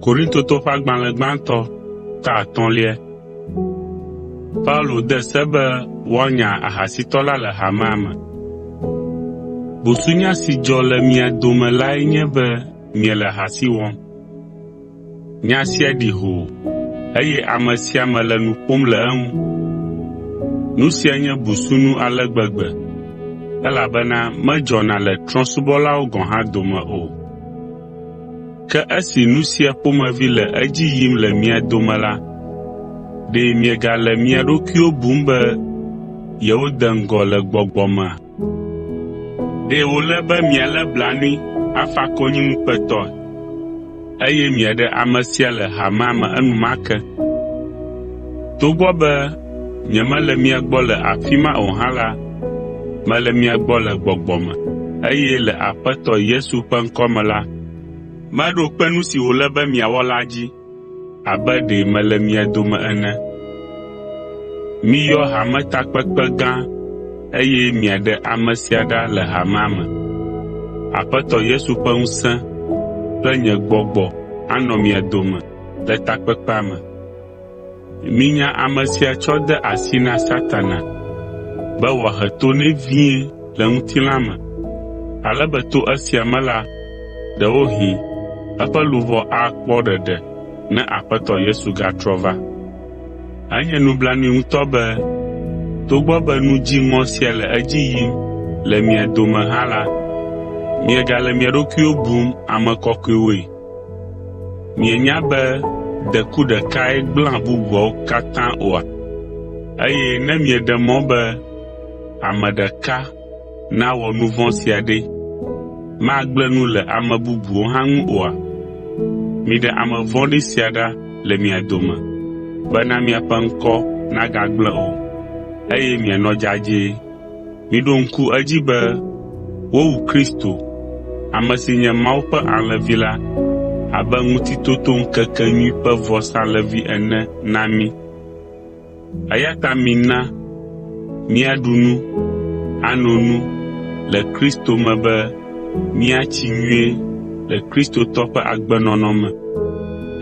Korintotɔ ƒe agbalẽ gbãtɔ ta atɔ̃lia. Paulo de se be woanya ahasitɔ la le hamea me. Busunya si dzɔ le mia dome lae nye be miele ahasi wɔm. Nya sia ɖi hoo, eye ame sia ame le nu ƒom le eŋu. Nu sia nye busunu ale gbegbe, elabena medzɔna le trɔ̃subɔlawo gɔ̃ hã dome o. Ke esi nu sia ƒomevi le edzi yim le mia dome la, ɖe miegale mia ɖokuiwo bum be yewode ŋgɔ le gbɔgbɔ mea? Ɖe wòle be mialé blanui afa konyi ŋukpetɔe, eye miaɖe ame sia le hamea me enumake. Togbɔ be nyemele mia gbɔ le afi ma o hã la, mele mia gbɔ le gbɔgbɔ me, eye le Aƒetɔ Yesu ƒe ŋkɔ me la, meɖo kpe nu si wòle be miawɔ la dzi. abe ɖe mele mia dome ene. Miyɔ hametakpekpe gã eye miaɖe ame sia ɖa le hamea me. Aƒetɔ Yesu ƒe ŋusẽ kple nye gbɔgbɔ anɔ mia dome le takpekpea me. Minya ame sia tsɔ de asi na Satana be wòahe to nɛ vie le ŋutilã me, ale be to esia me la, ɖewohĩ eƒe luʋɔ akpɔ ɖeɖe ne Aƒetɔ Yesu gatrɔ va. Enye nublanui ŋutɔ be togbɔ be nu dziŋɔ sia le edzi yim le mia dome hã la, miegale mia ɖokuiwo bum ame kɔkɔewoe. Mienya be deku ɖekae gblẽa bubuawo katã oa? Eye ne mieɖe mɔ be ame ɖeka nawɔ nu vɔ̃ sia ɖe, magblẽ nu le ame bubuwo hã ŋu oa? Miɖe ame vɔ̃ɖi sia ɖa le mia dome bena miaƒe ŋkɔ nagagblẽ o, eye mianɔ dzadzɛ. Miɖo ŋku edzi be wowu Kristo, ame si nye Mawu ƒe alẽvi la, abe Ŋutitotoŋkekenyui ƒe vɔsalẽvi ene na mí. Eya ta mina míaɖu nu, ano nu le Kristo me be míatsi nyuie le Kristotɔ ƒe agbenɔnɔ me,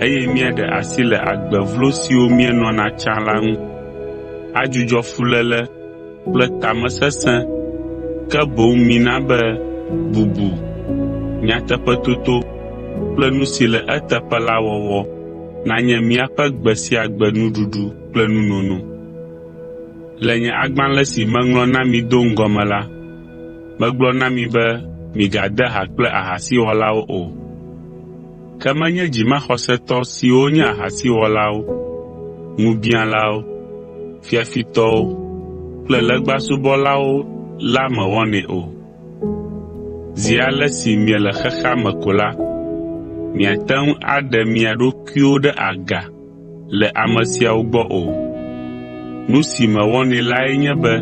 eye míaɖe asi le agbe vlo siwo míenɔna tsã la ŋu, adzudzɔ fuléle, kple tamesesẽ, ke boŋ mina be bubu, nyateƒetoto kple nu si le eteƒe la wɔwɔ nanye míaƒe gbe sia gbe nuɖuɖu kple nunono. Le nye agbalẽ si meŋlɔ na mi do ŋgɔ me la, megblɔ na mi be migade ha kple ahasiwɔlawo o. Ke menye dzimaxɔsetɔ siwo nye ahasiwɔlawo, ŋubiãlawo, fiafitɔwo kple legbasubɔlawo la me wɔnɛ o. Zi ale si miele xexea me ko la, miate ŋu aɖe mia ɖokuiwo ɖe aga le ame siawo gbɔ o. Nu si mewɔnɛ lae nye be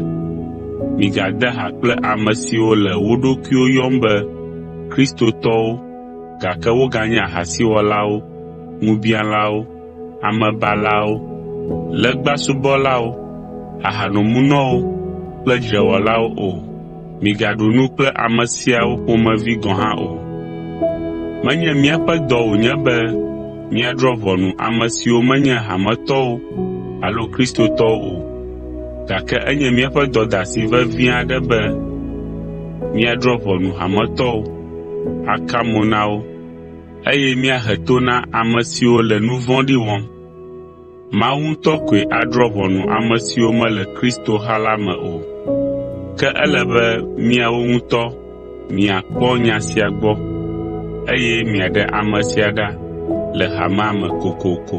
migade ha kple ame siwo le wo ɖokuiwo yɔm be Kristotɔwo, gake woganye ahasiwɔlawo, ŋubiãlawo, amebalawo, legbasubɔlawo, ahanomunɔwo kple dzrewɔlawo o. Migaɖu nu kple ame siawo ƒomevi gɔ̃ hã o. Menye míaƒe dɔ wònye be míadrɔ̃ ʋɔnu ame siwo menye hametɔwo alo Kristotɔwo o, gake enye míaƒe dɔdeasi vevi aɖe be míadrɔ̃ ʋɔnu hametɔwo, aka mo na wo, eye míahe to na ame siwo le nu vɔ̃ɖi wɔm. Mawu ŋutɔ koe adrɔ̃ ʋɔnu ame siwo mele kristoha la me o. Ke ele be miawo ŋutɔ miakpɔ nya sia gbɔ eye miaɖe ame sia ɖa le hamea me kokoko.